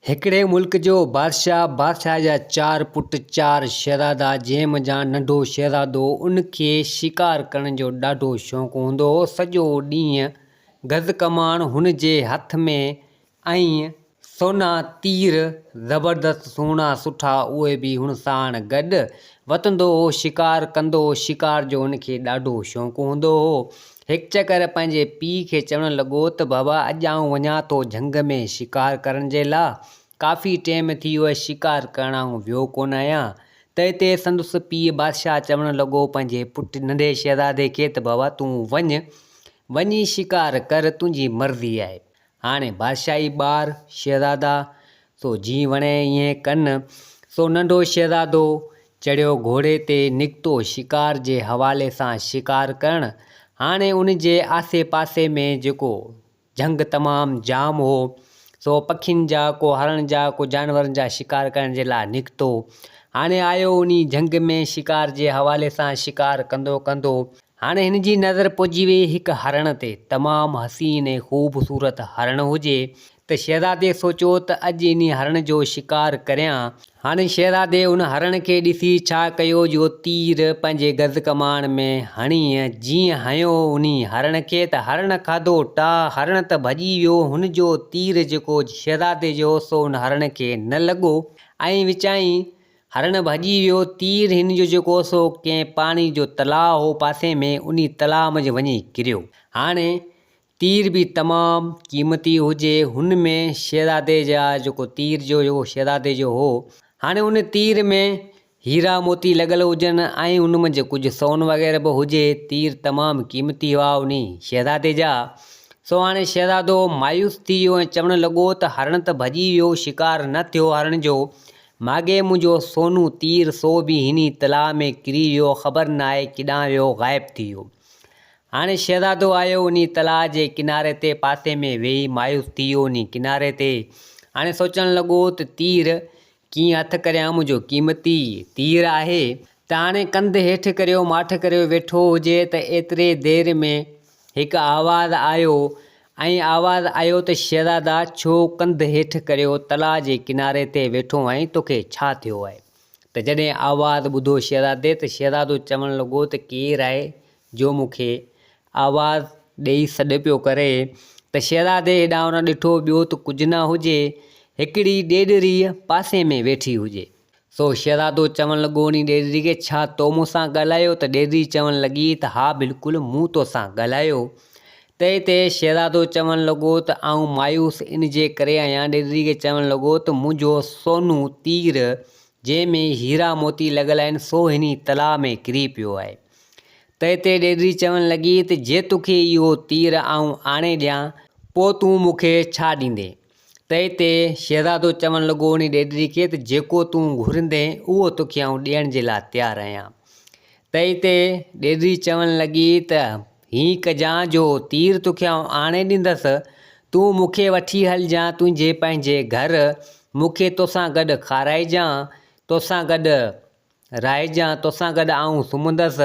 هڪڙي ملڪ جو بادشاهه، بادشاهه جا چار پٽ، چار شهزادا، جنهن منجهان ننڍو شهزادو، ان کي شڪار ڪرڻ جو ڏاڍو شوق هوندو هو، سڄو ڏينهن گز ڪماڻ هن جي هٿ ۾ ۽ سونا تير، زبردست سهڻا سٺا، اهي به هن ساڻ گڏ وتندو هو، شڪار ڪندو هو، شڪار جو هن کي ڏاڍو شوق هوندو هو، هڪ چڪر پنهنجي پيء کي چوڻ لڳو ته بابا اڄ آئون وڃان ٿو جهنگ ۾ شڪار ڪرڻ جي لاء. ڪافي ٽيم ٿي ويو شڪار ڪرڻ آئون ويو ڪونه آهيان. ته اتي سندس پيء بادشاهه چوڻ لڳو پنهنجي پٽ ننڍي شهزادي کي ته بابا تون وڃ. وڃي شڪار ڪر تنهنجي مرضي آهي. هاڻي بادشاهي ٻار شهزادا، سو جيئن وڻي ايئن ڪن. سو ننڍو شهزادو چڙهيو گهوڙي تي نڪتو شڪار جي حوالي سان شڪار ڪرڻ. هاڻي ان جي آسي پاسي ۾ جيڪو جهنگ تمام جام هو، سو پکين جا ڪو هرڻ جا ڪو جانورن جا شڪار ڪرڻ جي لاء نڪتو. هاڻي آيو انهي جهنگ ۾ شڪار جي حوالي سان شڪار ڪندو ڪندو هاڻي هن جي نظر پئجي وئي هڪ هرڻ تي، تمام حسين ۽ خوب صورت هرڻ هجي ته شهزادي سوچيو ته اڄ انهي هرڻ جو شڪار ڪريان، هاڻي شهزادي ان هرڻ کي ڏسي ڇا ڪيو جو تير پنهنجي گز ڪماڻ ۾ هڻي جيئن هنيو انهي هرڻ کي ته هرڻ کاڌو ٽاهه، هرڻ ته ڀڄي ويو، هن جو تير جيڪو شهزادي جو سو ان هرڻ کي نه لڳو ۽ وچائين هرڻ ڀڄي ويو، تير هن جو جيڪو هو سو ڪنهن پاڻي جو تلاء هو پاسي ۾ انهي تلاء منجهه وڃي ڪريو. هاڻي تير به تمام قيمتي هجي هن ۾ شهزادي جا جيڪو تير جو جيڪو شهزادي جو هو هاڻي ان تير ۾ هيرا موتي لڳل هجن ۽ ان منجهه ڪجهه سون وغيره به هجي تير تمام قيمتي هئا انهي شهزادي جا سو هاڻي شهزادو مايوس ٿي ويو ۽ چوڻ لڳو ته هرڻ ته ڀڄي ويو شڪار نه ٿيو هرڻ جو ماڳهين منهنجو سونو تير سو به هن ئي تلاء ۾ ڪري ويو خبر ناهي ڪيڏانهن ويو غائب ٿي ويو. هاڻي شهزادو آيو ان ئي تلاء جي ڪناري تي پاسي ۾ ويهي مايوس ٿي ويو ان ئي ڪناري تي هاڻي سوچڻ لڳو ته تير ڪيئن هٿ ڪريان منهنجو قيمتي تير آهي ته هاڻي ڪنڌ هيٺ ڪريو ماٺ ڪريو ويٺو هجي ته ايتري دير ۾ هڪ آواز آيو ۽ آواز آيو ته شهزادا ڇو ڪنڌ هيٺ ڪريو تلاء جي ڪناري تي ويٺو آهين توکي ڇا ٿيو آهي ته جڏهن آواز ٻڌو شهزادي ته شهزادو چوڻ لڳو ته ڪير آهي جو مون کي آواز ڏئي سڏ پيو ڪري ته شهزادي هيڏانهن هوڏانهن ڏٺو ٻيو ته ڪجهه نه هجي هڪڙي ڏيڏريء پاسي ۾ ويٺي هجي سو شھزادو چوڻ لڳو انھي ڏيرڙي کي ڇا تو مون سان ڳالھايو ته ڏيرڙي چوڻ لڳي ته ھا بلڪل مون تو سان ڳالھايو تنھن تي شھزادو چوڻ لڳو ته آئون مايوس ان جي ڪري آھيان ڏيرڙي کي چوڻ لڳو ته منھنجو سونھون تير جنھن ۾ ھيرا موتي لڳل آھن سو ھني تلاء ۾ ڪري پيو آھي تنھن تي ڏيرڙي چوڻ لڳي ته جي توکي اھو تير آئون آڻي ڏيان پوء تون مون کي ڇا ڏيندين؟ تنهن تي شهزادو چوڻ لڳو انهي ڏيڏري کي ته جيڪو تون گهرندين اهو توکي آئون ڏيڻ جي لاء تيار آهيان. تنهن تي ڏيڏري چوڻ لڳي ته هيئن ڪجان جو تير توکي آئون آڻي ڏيندس، تون مون کي وٺي هلجان تنهنجي پنهنجي گهر، مون کي توسان گڏ کارائجان، توسان گڏ رائجان توسان گڏ آئون سمهندس،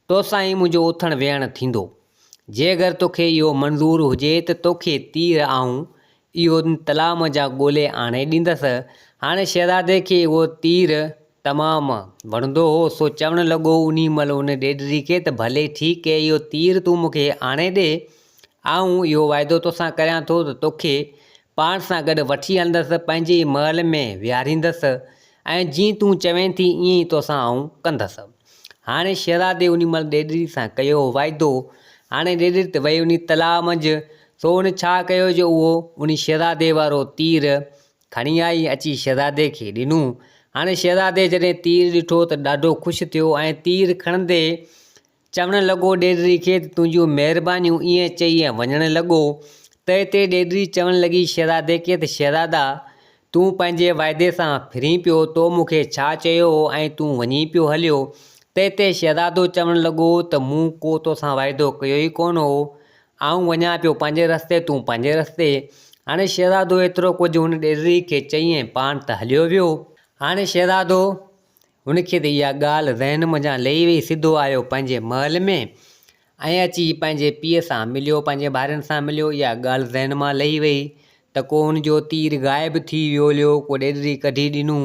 توسان ئي منهنجو اٿڻ ويهڻ ٿيندو. جي اگر توکي اهو منظور هجي ته توکي تير آئون اهو تلاء منجهان ڳولي آڻي ڏيندس. هاڻي شهزادي کي اهو تير تمام وڻندو هو، سو چوڻ لڳو انهي مهل ان ڏيڏري کي ته ڀلي ٺيڪ هي اهو تير تون مونکي آڻي ڏي، آئون اهو واعدو توسان ڪريان ٿو ته توکي پاڻ سان گڏ وٺي هلندس، پنهنجي ئي محل ۾ ويهاريندس ۽ جيئن تون چوين ٿي ايئن ئي توسان آئون ڪندس. هاڻي شهزادي انهي مهل ڏيڏري سان ڪيو هو واعدو. هاڻي ڏيڏري ته وئي انهي تلاء منجهه، سو هن ڇا ڪيو جو اهو انهي شهزادي وارو تير کڻي آئي ۽ اچي شهزادي کي ڏنو. هاڻي شهزادي جڏهن تير ڏٺو ته ڏاڍو خوش ٿيو ۽ تير کڻندي چوڻ لڳو ڏيڏري کي ته تنهنجون مهربانيون ائين چئي ۽ وڃڻ لڳو. تئي تي ڏيڏري چوڻ لڳي شهزادي کي ته شهزادا! تون پنهنجي واعدي سان ڦرين پيو، تو مون کي ڇا چيو هو ۽ تون وڃي پيو هليو. تئي تي شهزادو چوڻ لڳو ته مون ڪو توسان واعدو ڪيو ئي ڪونه هو. آئون وڃان پيو پنهنجي رستي تون پنهنجي رستي. هاڻي شهزادو ايترو ڪجهه هن ڏيڏري کي چئي ۽ پاڻ ته هليو ويو. هاڻي شهزادو هن کي ته اها ڳالهه ذهن منجهان لهي وئي، سڌو آيو پنهنجي محل ۾ ۽ اچي پنهنجي پيء سان مليو، پنهنجي ڀائرن سان مليو، اها ڳالهه ذهن مان لهي وئي ته ڪو هن جو تير غائب ٿي ويوليو، ڪو ڏيڏري ڪڍي ڏنو،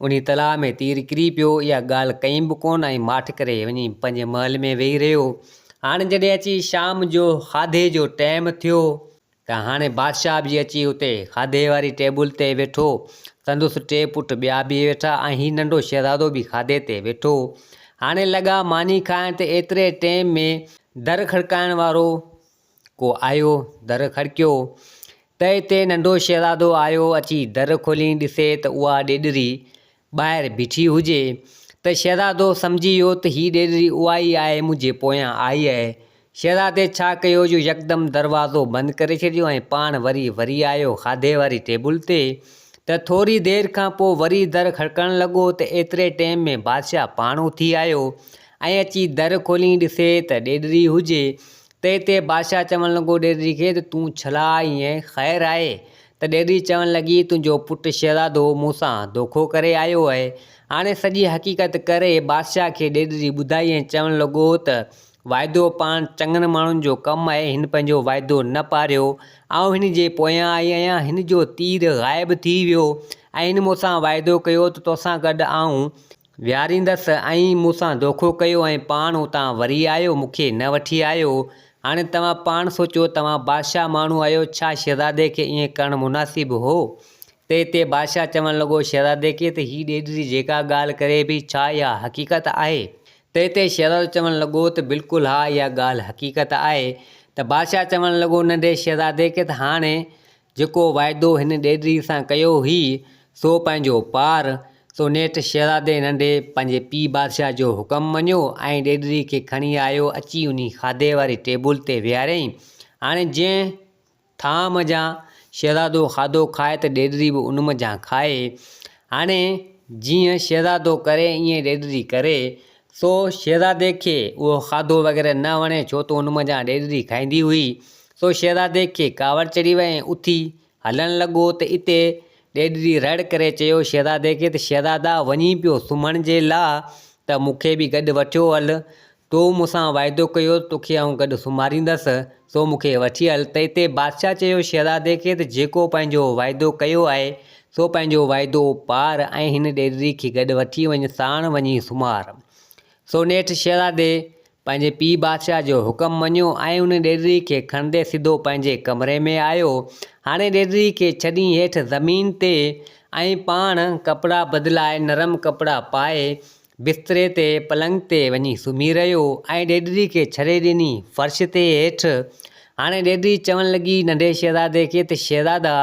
انهي تلاء ۾ تير ڪري پيو، اها ڳالهه ڪئي به ڪونه ۽ ماٺ ڪري وڃي پنهنجي محل ۾ ويهي رهيو، هاڻ جڏهن اچي شام جو کاڌي جو ٽيم ٿيو. ته هاڻي بادشاهه به اچي اتي کاڌي واري ٽيبل تي ويٺو. سندس ٽي پٽ ٻيا به ويٺا ۽ هي ننڍو شهزادو به کاڌي تي ويٺو. هاڻي لڳا ماني کائڻ ته ايتري ٽيم ۾ در کڙڪائڻ وارو ڪو آيو. در کڙڪيو ته اتي ننڍو شهزادو آيو. اچي در کولين ڏسي ته اها ڏيڏري ٻاهر بيٺي هجي ته شهزادو سمجهي ويو ته هي ڏيڏري اها ئي آهي منهنجي پويان آئي اهي شهزادي ڇا ڪيو جو يڪدم دروازو بند ڪري ڇڏيو ۽ پاڻ وري وري آيو کاڌي واري ٽيبل تي ته ٿوري دير کان پوء وري در کڙڪڻ لڳو ته ايتري ٽيم ۾ بادشاهه پاڻ اٿي آيو ۽ اچي در کولين ڏسي ته ڏيڏري هجي تي تي بادشاهه چوڻ لڳو ڏيڏري کي ته تون ڇلا آئي ۽ خير آهي؟ ته ڏيڏري چوڻ لڳي تنهنجو پٽ شهزادو مون سان دوکو ڪري آيو اهي. هاڻي سڄي حقيقت ڪري بادشاهه کي ڏيڏري ٻڌائي ۽ چوڻ لڳو ته واعدو پاڻ چڱن ماڻهن جو ڪم آهي هن پنهنجو واعدو نه پاريو آئون هن جي پويان آئي آهيان هن جو تير غائب ٿي ويو ۽ هن مون سان واعدو ڪيو ته توسان گڏ آئون ويهاريندس ۽ مون سان دوکو ڪيو ۽ پاڻ اتان وري آيو مون کي نه وٺي آيو هاڻي توهان پاڻ سوچيو توهان بادشاهه ماڻهو آهيو ڇا شهزادي کي ائين ڪرڻ مناسب هو ته تي بادشاهه چوڻ لڳو شهزادي کي ته هي ڏيڏري جيڪا ڳالهه ڪري پئي ڇا اها حقيقت آهي ته تي شهزادو چوڻ لڳو ته بلڪل ها اها ڳالهه حقيقت آهي ته بادشاهه چوڻ لڳو ننڍي شهزادي کي ته هاڻي جيڪو واعدو هن ڏيڏري سان ڪيو هئي، سو پنهنجو پار، سو نيٺ شهزادي ننڍي پنهنجي پيء بادشاهه جو حڪم مڃيو ۽ ڏيڏري کي کڻي آيو اچي انهي کاڌي واري ٽيبل تي ويهاريائين. هاڻي جنهن ٿانء منجهان شهزادو کاڌو کائي ته ڏيڏري به ان منجهان کائي. هاڻي جيئن شهزادو ڪري ائين ڏيڏري ڪري. سو شهزادي کي اهو کاڌو وغيره نه وڻي، ڇو ته ان منجهان ڏيڏري کائيندي هئي. سو شهزادي کي ڪاوڙ چڙهي وئي ۽ اٿي هلڻ لڳو ته اتي ڏيڏري رڙ ڪري چيو شهزادي کي ته شهزادا وڃين پيو سمهڻ جي لاء ته مون کي به گڏ وٺيو هل. تو مون سان واعدو ڪيو هو ته توکي آئون گڏ سمهاريندس، سو مون کي وٺي هل ته اتي بادشاهه چيو شهزادي کي ته جيڪو پنهنجو واعدو ڪيو آهي سو پنهنجو واعدو پار، ۽ هن ڏيرڙي کي گڏ وٺي وڃ، ساڻ وڃي سمهار. سو نيٺ شهزادي پنهنجي پيء بادشاهه جو حڪم مڃيو، ۽ ان ڏيرڙي کي کڻندي سڌو پنهنجي ڪمري ۾ آيو. هاڻي ڏيرڙي کي ڇڏي هيٺ زمين تي، ۽ پاڻ ڪپڙا بدلائي نرم ڪپڙا پائي، بستري تي، پلنگ تي، وڃي سمهي رهيو، ۽ ڏيرڙي کي ڇري ڏني فرش تي هيٺ. هاڻي ڏيرڙي چوڻ لڳي ننڍي شهزادي کي ته شهزادا!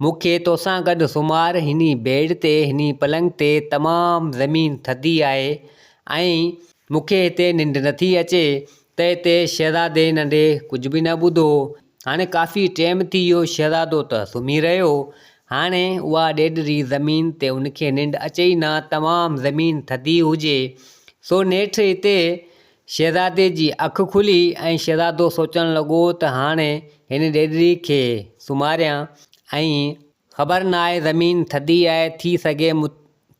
مون کي توسان گڏ سمهار، هني بيڊ تي، هني پلنگ تي، تمام زمين ٿڌي آهي ۽ مون کي هتي ننڊ نٿي اچي ته هتي شهزادي ننڍي ڪجهه به نه ٻڌو. هاڻي ڪافي ٽيم ٿي ويو شهزادو ته سمهي رهيو. هاڻي اها ڏيڏري زمين تي ان کي ننڊ اچي ئي نه تمام زمين ٿڌي هجي. سو نيٺ هتي شهزادي جي اک کلي ۽ شهزادو سوچڻ لڳو ته هاڻي هن ڏيڏري کي سمهاريان ۽ خبر ناهي زمين ٿڌي آهي ٿي سگهي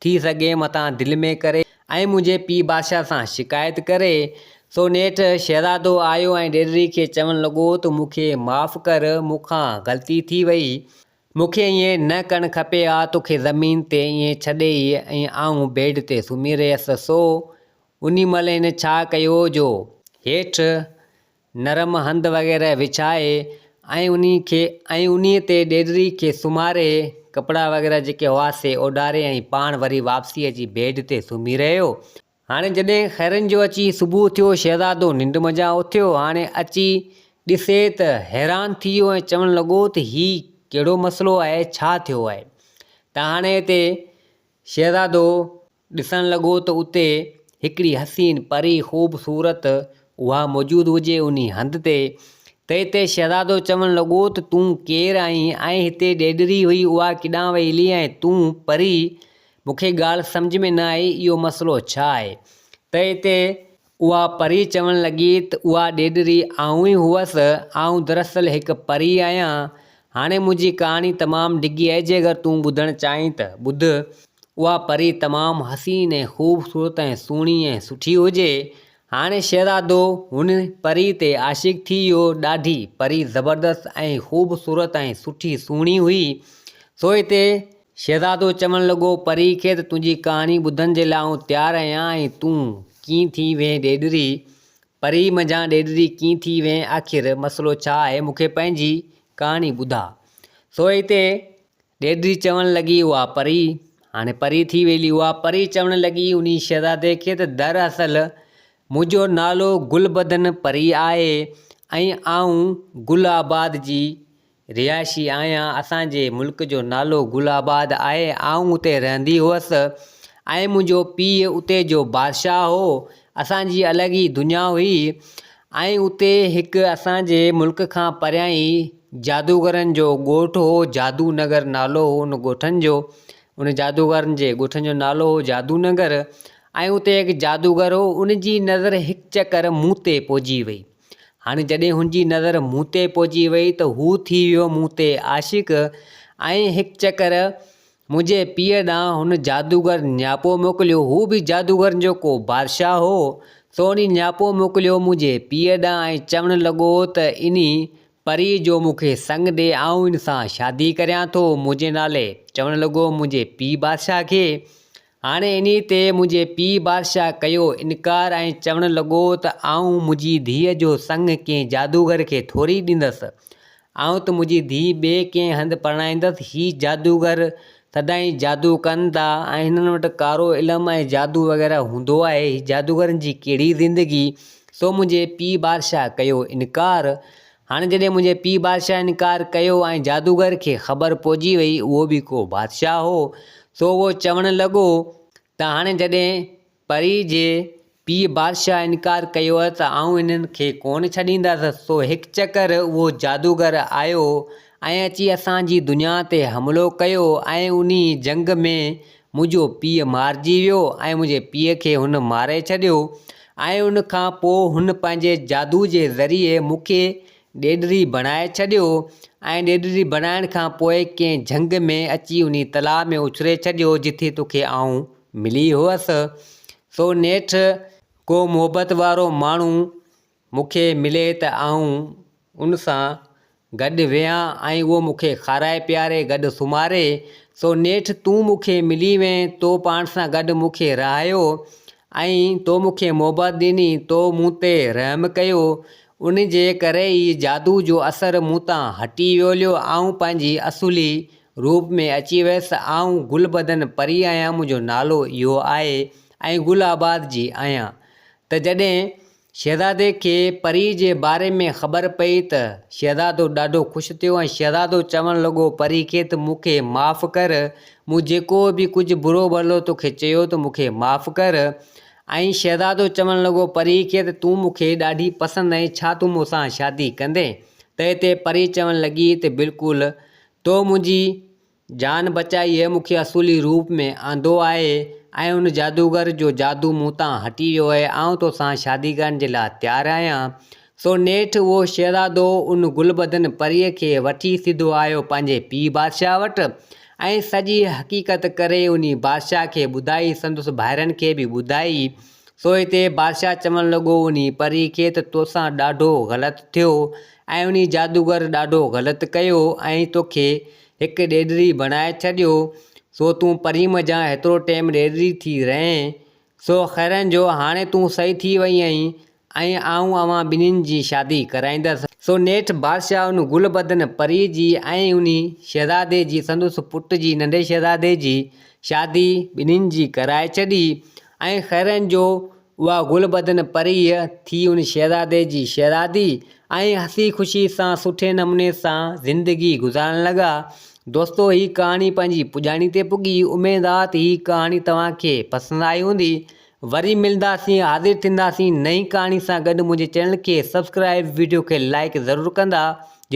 ٿي سگهي متان دل ۾ ڪري ۽ منهنجي پيء بادشاهه سان شڪايت ڪري سو نيٺ شهزادو آيو ۽ ڏيڏري کي چوڻ لڳو ته مون کي معاف ڪر مون کان غلطي ٿي وئي مون کي ائين نه ڪرڻ کپي ها توکي زمين تي ائين ڇڏي ۽ آئون بيڊ تي سمهي رهيس سو انهي مهل هن ڇا ڪيو جو هيٺ نرم هنڌ وغيره وڇائي ۽ انهي کي ۽ انهي تي ڏيڏري کي سمهاري ڪپڙا وغيره جيڪي هئا سي اوڍاري ۽ پاڻ وري واپسي اچي بيڊ تي سمهي رهيو. هاڻي جڏهن خيرن جو اچي صبح ٿيو شهزادو ننڊ منجهان اٿيو هاڻي اچي ڏسي ته حيران ٿي ويو ۽ چوڻ لڳو ته هي ڪهڙو مسئلو آهي ڇا ٿيو آهي ته هاڻي هتي شهزادو ڏسڻ لڳو ته اتي هڪڙي حسين پري خوب صورت اها موجود هجي انهي هنڌ تي تئي تي شهزادو چوڻ لڳو ته تون ڪير آهين ۽ هتي ڏيڏري هئي اها ڪيڏانهن وئي هلي ۽ تون پري مون کي ڳالهه سمجهه ۾ نه آئي اهو مسئلو ڇا آهي تئي تي اها پري چوڻ لڳي ته اها ڏيڏري آئون ئي هئس، آئون دراصل هڪ پري آهيان. هاڻي منهنجي ڪهاڻي تمام ڊگهي آهي جيڪر تون ٻڌڻ چاهين ته ٻڌ. اها پري تمام حسين ۽ خوبصورت ۽ سهڻي ۽ سٺي هجي. هاڻي شهزادو هن پري تي عاشق ٿي ويو. ڏاڍي پري زبردست ۽ خوبصورت ۽ سٺي سهڻي هئي. سو هتي شهزادو چوڻ لڳو، پريء کي ته تنهنجي ڪهاڻي ٻڌڻ جي لاء آئون تيار آهيان ۽ تون ڪيئن ٿي وئين ڏيڏري؟ پريء منجهان ڏيڏري ڪيئن ٿي وئين؟ آخر مسئلو ڇا آهي؟ مون کي پنهنجي ڪهاڻي ٻڌاء. سو ئي تي ڏيڏري چوڻ لڳي، اها پري هاڻي پري ٿي ويلي. اها پري چوڻ لڳي، انهي شهزادي کي ته در اصل منهنجو نالو گل بدن پري آهي ۽ آئون گل آباد جي رهائشي آهيان اسان جي ملڪ جو نالو گل آباد آهي آئون اتي رهندي هئس ۽ منهنجو پيء اتي جو بادشاهه هو اسان جي الڳ ئي دنيا هئي ۽ اتي هڪ اسان جي ملڪ کان پريان ئي جادوگرن جو ڳوٺ هو جادو نگر نالو هو ان ڳوٺن جو ان جادوگرن جي ڳوٺن جو نالو هو جادو نگر ۽ اتي هڪ جادوگر هو ان جي نظر هڪ چڪر مون تي پئجي وئي هاڻي جڏهن هن جي نظر مون تي پئجي وئي ته هو ٿي ويو مون تي عاشق ۽ هڪ چڪر منهنجي پيء ڏانهن هن جادوگر نياپو موڪليو. هو به جادوگرن جو ڪو بادشاهه هو، سو ان نياپو موڪليو منهنجي پيء ڏانهن ۽ چوڻ لڳو ته ان پريء جو مون کي سڱ ڏي، آئون ان سان شادي ڪريان ٿو منهنجي نالي. چوڻ لڳو منهنجي پيء بادشاهه کي هاڻي انهيء تي منهنجي پيء بادشاهه ڪيو انڪار ۽ چوڻ لڳو ته آئون منهنجي ڌيء جو سڱ ڪنهن جادوگر کي ٿوري ڏيندس. آئون ته منهنجي ڌيء ٻئي ڪنهن هنڌ پرڻائيندس. هي جادوگر سدائين جادو ڪن ٿا ۽ هنن وٽ ڪارو علم ۽ جادو وغيره هوندو آهي. هي جادوگرن جي ڪهڙي زندگي؟ سو منهنجي پيء بادشاهه ڪيو انڪار. هاڻي جڏهن منهنجي پيء بادشاهه انڪار ڪيو ۽ جادوگر کي خبر پئجي وئي اهو به ڪو بادشاهه هو، سو اهو چوڻ لڳو ته هاڻي جڏهن پريء جي پيء بادشاهه انڪار ڪيو ته آئون انهن کي ڪونه ڇڏيندس، سو هڪ چڪر اهو جادوگر آيو ۽ اچي اسان جي دنيا تي حملو ڪيو ۽ انهيء جنگ ۾ منهنجو پيء مارجي ويو ۽ منهنجي پيء کي هن ماري ڇڏيو ۽ ان کان پوء هن پنهنجي جادو جي ذريعي مون کي ڏيڏري بڻائي ڇڏيو ۽ ڏيڏري بڻائڻ کان پوء ڪنهن جهنگ ۾ اچي انهي تلاء ۾ اڇلي ڇڏيو جتي توکي آئون ملي هئس سو نيٺ ڪو محبت وارو ماڻهو مون کي ملي ته آئون ان سان گڏ ويهان ۽ اهو مون کي کارائي پياري گڏ سمهاري، سو نيٺ تون مون کي ملي وئين، تو پاڻ سان گڏ مون کي رهايو ۽ تو مون کي محبت ڏني، تو مون تي رحم ڪيو، ان جي ڪري ئي جادو جو اثر مون تان هٽي ويوليو، آئون پنهنجي اصولي روپ ۾ اچي ويس، آئون گل بدن پري آهيان، منهنجو نالو اهو آهي ۽ گل آباد جي آهيان ته جڏهن شهزادي کي پريء جي باري ۾ خبر پئي ته شهزادو ڏاڍو خوش ٿيو ۽ شهزادو چوڻ لڳو پريء کي ته مون کي معاف ڪر مون جيڪو به ڪجهه برو ڀلو تو کي چيو ته مون کي معاف ڪر ۽ شهزادو چوڻ لڳو پريء کي ته تون مون کي ڏاڍي پسند آهين ڇا تون مون سان شادي ڪندين تنهن تي پري چوڻ لڳي ته بلڪل تو منهنجي جان بچائي هيء مون کي اصولي روپ ۾ آندو آهي ۽ ان جادوگر جو جادو مون تان هٽي ويو آهي. آئون تو سان شادي ڪرڻ جي لاء تيار آهيان. سو نيٺ اهو شهزادو ان گل بدن پريء کي وٺي سڌو آيو پنهنجي پيء بادشاهه وٽ ۽ سڄي حقيقت ڪري انهي بادشاهه کي ٻڌائي، سندس ڀائرن کي به ٻڌائي. سو هتي بادشاهه چوڻ لڳو انهي پريء کي ته توسان ڏاڍو غلط ٿيو ۽ انهي جادوگر ڏاڍو غلط ڪيو ۽ توکي هڪ ڏيڏري بڻائي ڇڏيو، سو تون پرين منجهان هيترو ٽيم ڏيڏري ٿي رهين، سو خيرن جو هاڻي تون سئي ٿي وئي آهين، ۽ آئون اوهان ٻنهين جي شادي ڪرائيندس. سو نيٺ بادشاهه ان گل بدن پريء جي ۽ انهي شهزادي جي سندس پٽ جي ننڍي شهزادي جي شادي ٻنهين جي ڪرائي ڇڏي، ۽ خيرن جو اها گل بدن پريء ٿي ان شهزادي جي شهزادي ۽ هسي خوشي سان سٺي نموني سان زندگي گذارڻ لڳا دوستو هي ڪهاڻي پنهنجي پڄاڻي تي پڳي اميد آ ته هي ڪهاڻي توهان کي پسند آئي هوندي وري ملنداسين حاضر ٿينداسين نئين ڪهاڻي سان گڏ منهنجي چينل کي سبسڪرائب وڊيو کي لائڪ ضرور ڪندا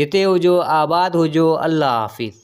جتي هجو آباد هجو الله حافظ.